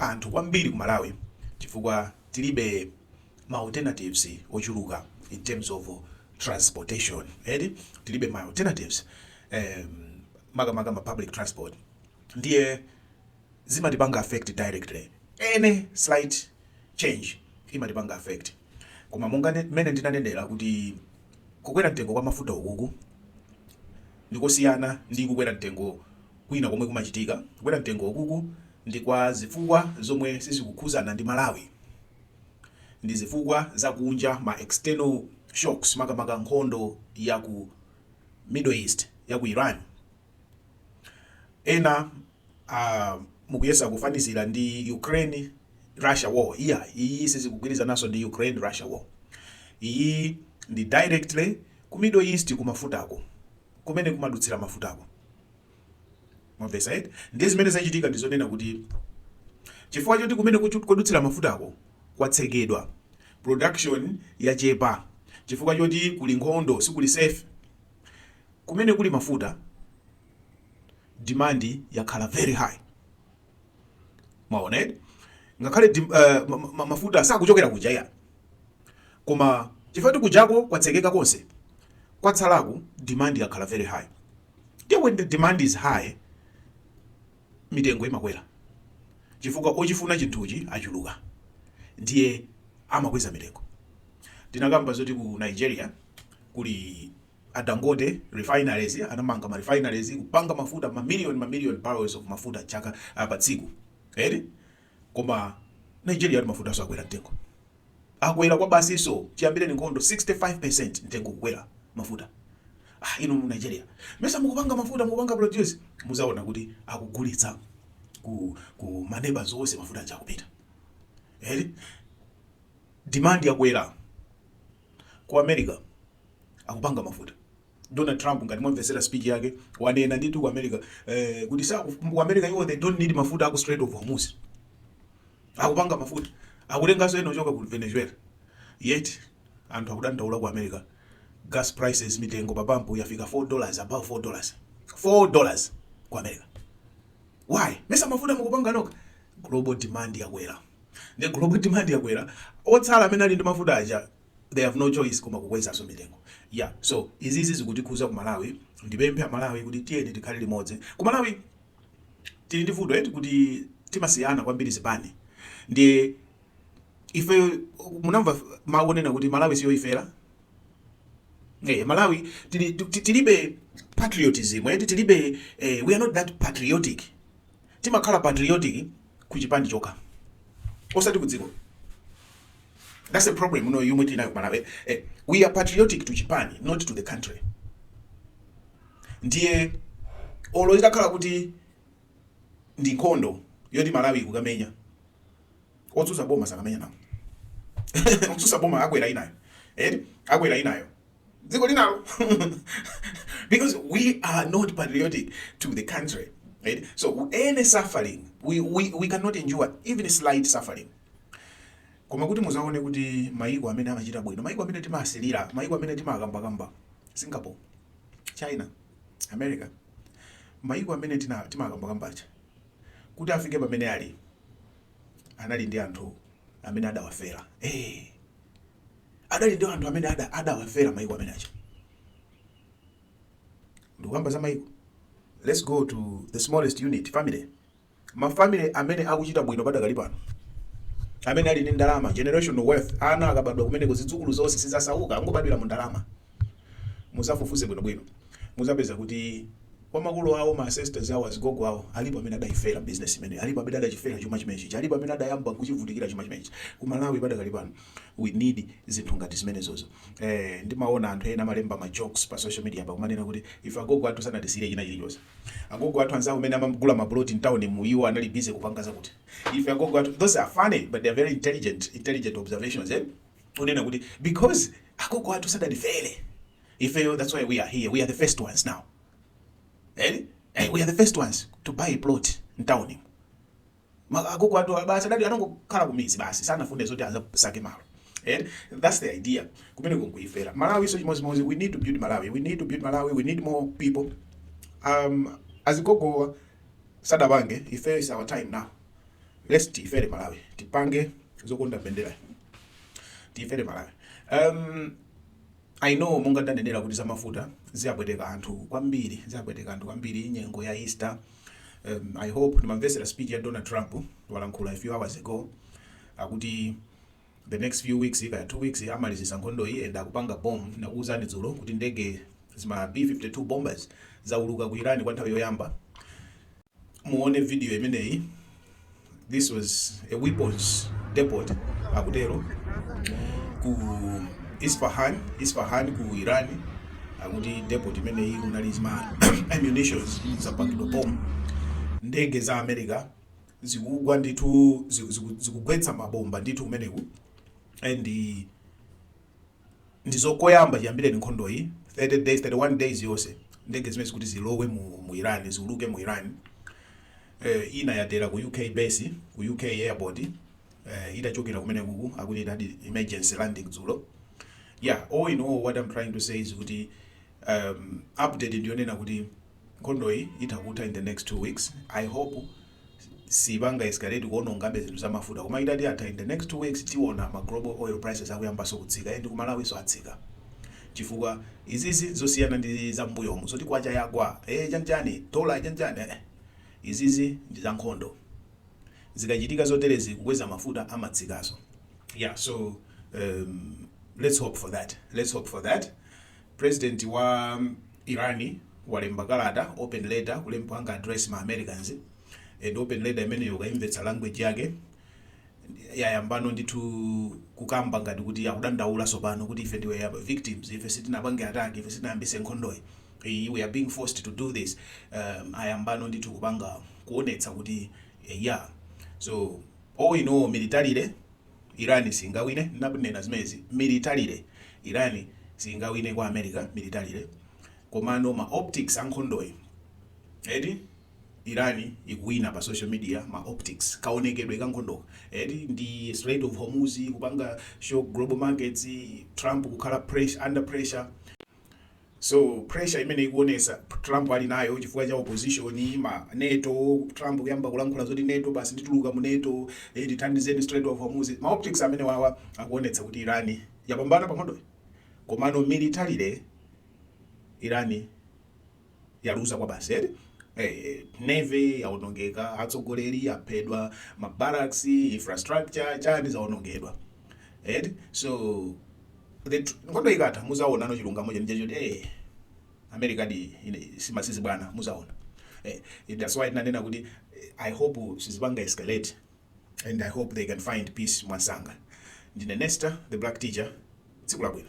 anthu kwambiri ku Malawi chifukwa tilibe ma alternatives ochuluka in terms of transportation eti tilibe ma alternatives em makamaka ma public transport ndiye zimatipanga affect directly any slight change imatipanga affect koma monga ne- mmene ndinanenera kuti kukwera mtengo kwa mafuta ukuku ndikosiyana ndi kukwera mtengo Kwina komwe kumachitika kukwera mtengo ukuku ndi kwa zifukwa zomwe sizikukhuzana ndi Malawi. Ndi zifukwa za kunja ma external shocks makamaka nkhondo ya ku Middle East ya ku Iran. Ena a mukuyesa kufanizira ndi Ukraine Russia war. Iyayi iyi sizikugwirizananso ndi Ukraine Russia war. Iyi ndi directly ku Middle East ku mafutako kumene kumadutsira mafutako. mwamvesa eti ndiye zimene zachitika ndi zonena kuti chifukwa choti kumene kuchu- kodutsira mafutako kwatsekedwa production yachepa chifukwa choti kuli nkhondo sikuli safe kumene kuli mafuta demand yakhala very high mwaona eti ngakhale dim- eh, ma- ma- mafuta sakuchokera kuja ya koma chifukwa kuti kujako kwatsekeka konse kwatsalaku demand yakhala very high Ndiye when the demand is high, mitengo imakwera chifukwa ochifuna chinthuchi achuluka ndiye amakweza mitengo. Tinakamba zoti ku Nigeria kuli a Dangote refineries anamanga ma refineries kupanga mafuta ma million ma million barrels of mafuta chaka uh, pa tsiku. Eti? Koma Nigeria tu mafutaso akwera mtengo. Akwera kwabasi so chiyambireni nkhondo 65% mtengo kukwera mafuta. Ah inu mu Nigeria mesa mukupanga mafuta mukupanga produce muzaona kuti akugulitsa ku ku ma neighbors onse mafuta aja akupita. Eti demand yakwera ku America akupanga mafuta. Donald Trump ngati mwamvetsera speech yake wanena ndithu ku America eh, kuti sa ku America iwo they don't need mafuta aku Strait of Hormuz akupanga mafuta akutenganso ena ochoka ku Venezuela yet anthu akudandaula ku America gas prices mitengo pa pampu yafika 4 dollars above 4 dollars 4 dollars ku America why mesa mafuta mukupanga noka global demand yakwera ndi global demand yakwera otsala amene ali ndi mafuta aja they have no choice koma kukwezaso mitengo ya so izizi zikutikhuza kumalawi ndipemphe amalawi kuti tiyeni tikhale limodzi kumalawi tili ndi vuto eti kuti timasiyana kwambiri zipani ndiye ife munamva akunena kuti malawi siyoifera Hey, eh, malawi tili, tilibe patriotism eti tilibe eh, we are not that patriotic Timakhala patriotic ku chipani chokha osati ku dziko that's a problem yomwe tili nayo ku Malawi eh, we are patriotic to chipani not to the country ndiye olo itakhala kuti ndi nkhondo yoti Malawi kukamenya otsutsa boma sakamenya nawo otsutsa boma akwera inayo eh akwera inayo dziko linalo because we are not patriotic to the country right? so any suffering we, we, we cannot endure even slight suffering koma kuti muzaone kuti maiko amene amachita bwino maiko amene timasilira maiko amene timakambakamba singapore china america maiko amene tina- timakambakambacha kuti afike pamene ali anali ndi anthu amene adawafera hey. adali ndi anthu amene ada adawafera maiko amene aja ndikukamba za maiko let's go to the smallest unit family mafamily amene akuchita bwino padakali pano amene ali ndi ndalama generational wealth ana akabadwa kumeneko zidzukulu zonse sizasauka angobadwira mu ndalama muzafufuze bwinobwino muzapeza kuti kwa makolo awo ma ancestors awo azigogo awo alipo amene adayifera business imeneyi alipo amene adachifera chuma chimenechi alipo amene adayamba kuchivutikira chuma chimenechi ku malawi padakali pano we need zinthu ngati zimenezozo eh, ndimaona anthu ena amalemba ma jokes pa social media pa kumanena kuti ife agogo athu sanatisiyire china chilichonse agogo athu anzawo amene amagula maplot in town mu iwo anali busy kupanga zakuti ife agogo athu those are funny but they are very intelligent intelligent observations eh kunena kuti because agogo athu sanatifere ifeyo that's why we are here we are the first ones now eh? eh we are the first ones to buy a plot in town Ma agogo athu basi adali anangokhala kumidzi basi sanafune zoti azasake malo en that's the idea kumeneko nkuyifera Malawi so chimodzimodzi we need to build Malawi we need to build Malawi we need more people um azigogowa sadapange ife is our time now let's tifere Malawi tipange zokonda mbendera tifere Malawi um I know monga ndanenera kuti za mafuta ziwapweteka anthu kwambiri ziwapweteka anthu kwambiri nyengo ya Easter em I hope ndimamvetsera speech ya Donald Trump walankhula a few hours ago akuti the next few weeks kaya two weeks amalizisa nkhondoyi and akupanga bomb ndinakuuzani dzulo kuti ndege zima B52 bombers zauluka ku Iran kwa nthawi yoyamba Muone video imeneyi this was a weapons depot akutero ku Isfahan Isfahan ku Iran akuti depot imeneyi kunali zima ammunitions zapangidwa bomb ndege za America zikugwa ndithu ziku- ziku- zikugwetsa mabomba ndithu kumeneko and Ndizo koyamba chiyambireni nkhondoyi, 31 days yonse, ndege zimenezi kuti zilowe mu, mu Iran, ziwuluke mu Iran. Eh, ina yatera ku UK base, ku UK airport, eh, itachokera kumene kuku, akuti itachita emergency landing dzulo. Yeah, all in all, what I'm trying to say is kuti um, update ndiyonena kuti nkhondoyi itha kutha in the next two weeks. I hope siipanga escalate kuonongabe zinthu za mafuta koma itati yatha in the next 2 weeks tiona ma global oil prices akuyambaso kutsika and ku malawiso atsika chifukwa izizi nzosiyana ndi za mmbuyomu zoti kwacha yagwa ee chanchani dollar chanchani eeh izizi ndi za nkhondo zikachitika zoterezi kukweza mafuta amatsikaso yeah so um lets hope for that lets hope for that. President wa Iran walemba kalata, open letter, kuwapanga address ma Americans and open letter imeneyo ukayimvetsa language yake yayambano ndithu kukamba ngati kuti akudandaula sopano kuti ife ndife victims ife sitinapange attack ife sitinayambise nkhondoyi Eh, we are being forced to do this um, ayambano ndithu kupanga kuonetsa kuti eh, yeah so all in all militarily Iran siingawine, ndinanena zimenezi, militarily. Iran siingawine kwa America, militarily, komano ma optics a nkhondoyi, eti, Iran ikuwina pa social media, ma optics, kaonekedwe ka nkhondoka, eti, ndi Strait of Hormuz kupanga shock global markets, Trump kukhala pressure, under pressure. So pressure imene ikuonesa Trump ali nayo chifukwa cha opposition, ma nato, Trump kuyamba kulankhula zoti nato basi ndituluka mu nato, eh tithandizeni Strait of Hormuz, ma optics amenewawa akuonetsa kuti Iran yapambana pa nkhondoyi. Komano militarily Iran yaluza kwabasi eti Hey, navy yaonongeka atsogoleri aphedwa mabarracks infrastructure chani zaonongedwa eti so the tr- nkhondo ikatha muzaonano chilungamo cheni chachoti hey, america ndi simasewera bwana muzaona eh, that's why ndinanena kuti eh, i hope sizipanga escalate and i hope they can find peace mwansanga ndine nester the black teacher tsiku labwino